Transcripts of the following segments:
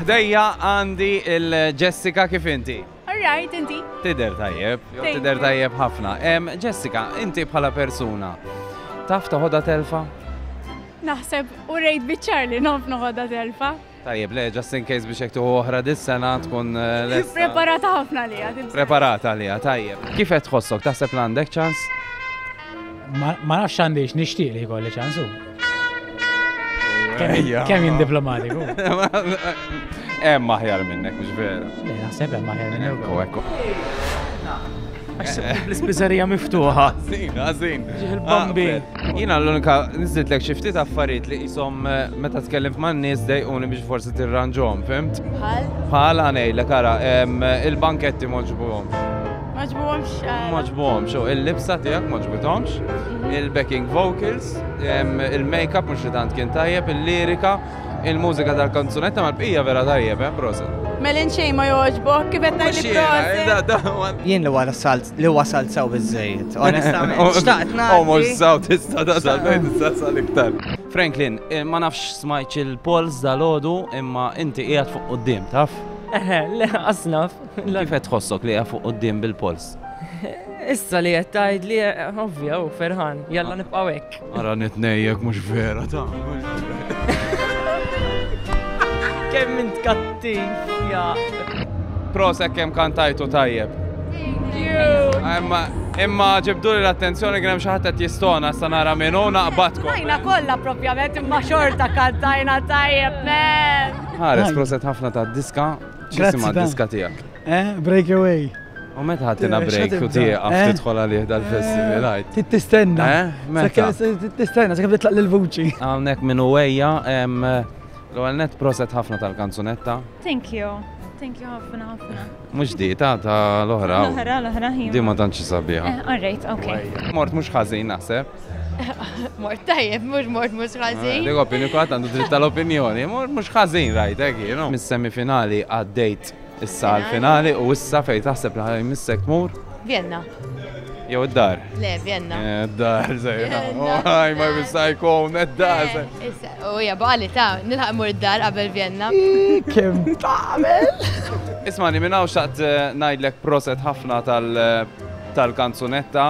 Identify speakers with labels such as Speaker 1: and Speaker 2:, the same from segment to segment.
Speaker 1: Ħdejja għandi il-Jessica kif inti? Alright, inti?
Speaker 2: Tider tajjeb,
Speaker 1: tider tajjeb
Speaker 2: ħafna.
Speaker 1: Jessica, inti bħala persuna, taf toħodha telfa? Naħseb
Speaker 2: u rejt biċċar li naf noħodha telfa. Tajjeb, le, just in
Speaker 1: case biex jektu oħra dis-sena tkun eh, l Preparata ħafna li
Speaker 2: għad. Preparata li għad, tajjeb.
Speaker 1: Kif qed tħossok, taħseb l-għandek ċans?
Speaker 3: Ma nafx għandix nixtieq li jkolli ċansu. Kemm jien diplomatiku.
Speaker 1: Hemm maħjar minnek, mhux vera. Le, naħseb hemm maħjar
Speaker 3: minnek. Ekku, ekku. L-ispiżerija miftuħa. Zin, għazin.
Speaker 1: Il-bambi. Ah,
Speaker 3: Jina l-unika
Speaker 1: nizzit l-ek xiftit affarijiet li jisom eh, meta tkellim ma' nis dejquni biex forsi tirranġom, fimt? Bħal? Bħal għanej, l-kara, il-banketti moġbuħom. Maġbuhomx.
Speaker 2: Eh, maġbuhomx,
Speaker 1: u il-libsa tiegħek maġbuhomx, mhm. il-backing vocals, il-makeup mhux li tant kien tajjeb, il-lirika, il-mużika tal-kanzunetta mal-bqija vera tajjeb, eh, proset. Melin xej ma
Speaker 2: joġbok, kif qed ngħid proset. Eh, Jien li wara salt
Speaker 4: li wasalt sew biżejjed, onestament. Xtaqt nagħti. Omor saw
Speaker 1: tista' da sal tista' sal iktar. Franklin, eh, ma nafx smajċ il-pols dal-ħodu imma inti qiegħed fuq qudiem, taf? Eħe, le,
Speaker 5: asnaf. Kif qed tħossok
Speaker 1: li qiegħed fuq quddiem bil-polz? Issa
Speaker 5: li qed tgħidli, ovvja u ferħan, jalla nibqgħu hekk. Ara nitnejjek
Speaker 1: mhux vera ta'.
Speaker 5: Kemm int kattiv, ja. Prosa
Speaker 1: kemm kantajtu tajjeb. Thank you. Imma ġibdu li l-attenzjoni kien hemm xi ħadd qed jistona sa nara minn hu naqbadkom. Tajna kollha
Speaker 2: propjament imma xorta kantajna tajjeb men. Ħares proset
Speaker 1: ħafna ta' diska X'isima diska tiegħek? Eh, breakaway.
Speaker 4: U meta
Speaker 1: ħaddina eh, break u tieqa eh? tidħol għalih dal-festival għajt. Eh, tittistenna.
Speaker 4: Meta?
Speaker 1: Tittistenna, sakemm
Speaker 4: titlaq l-vuċi. Hawnhekk minn uwejja,
Speaker 1: l-ewwel net proset ħafna tal-kanzunetta. Thank you.
Speaker 2: Thank you ħafna ħafna. Mhux di ta' ta' l-oħra. L-oħra,
Speaker 1: l-oħra ħin. Di
Speaker 2: ma tantx sabiħa.
Speaker 1: All right, okay.
Speaker 2: Mort mhux ħażin
Speaker 1: naħseb. Mort
Speaker 2: tajjeb, mux mort mux ħazin. Dik opinju kwatt għandu dritt
Speaker 1: tal-opinjoni, mort mux ħazin rajt, ekki, eh, no? Mis-semifinali għaddejt issa għal-finali u issa fej taħseb li ħajm missek tmur? Vienna.
Speaker 2: Jew
Speaker 1: id-dar? Le, Vienna. Eh,
Speaker 2: id-dar,
Speaker 1: zejna. Għaj, ma jbissaj kom, id-dar. Eh, u hija
Speaker 2: baqali ta' nilħaq mur id-dar qabel Vienna. Kem
Speaker 4: tagħmel? Ismani,
Speaker 1: minnaw xaqt najdlek proset ħafna tal-kanzunetta.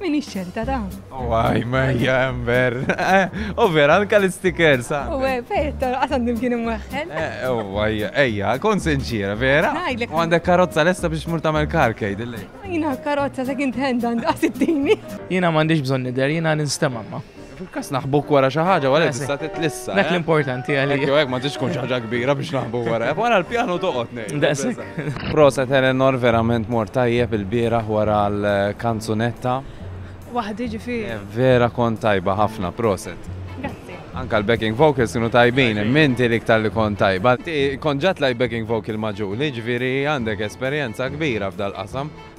Speaker 1: Min ċerta
Speaker 2: ta'. Waj, oh, ma hija
Speaker 1: ember. U vera, anka l-stickers. U fetta,
Speaker 2: għasan dim kien imweħħel. U għaj,
Speaker 1: ejja, kon senċira, vera? U għandek karozza lesta biex mur tamel karkej, dilli. Jina karozza
Speaker 2: second hand għand għasittini. Jina mandiġ bżon
Speaker 5: nider, jina ninstema ma. Fil-każ naħbuk wara
Speaker 1: xi ħaġa wara tista' titlissa. Dak eh? l-importanti
Speaker 5: għalija. Jew hekk ma tix tkun ħaġa
Speaker 1: kbira biex naħbu wara. Wara l-pjanu toqgħod ngħid. Daqshekk. Proset
Speaker 5: Eleanor
Speaker 1: verament mor tajjeb il-bieraħ wara l-kanzunetta. Waħdi
Speaker 2: ġifieri. Eh, vera kont tajba
Speaker 1: ħafna, proset. Anka
Speaker 2: l-backing
Speaker 1: vocals kienu tajbin, minti li ktar li kon tajba. Ti konġat laj backing vocal maġuli, ġviri għandek esperienza kbira f'dal-qasam.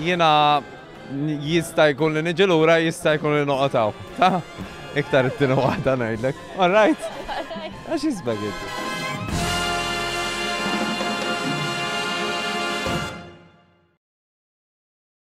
Speaker 1: Jiena jista' jkun li niġi lura jista' jkun li noqgħod hawn. Ta' iktar it-tieni waħda ngħidlek. All right? Għax jisbek inti.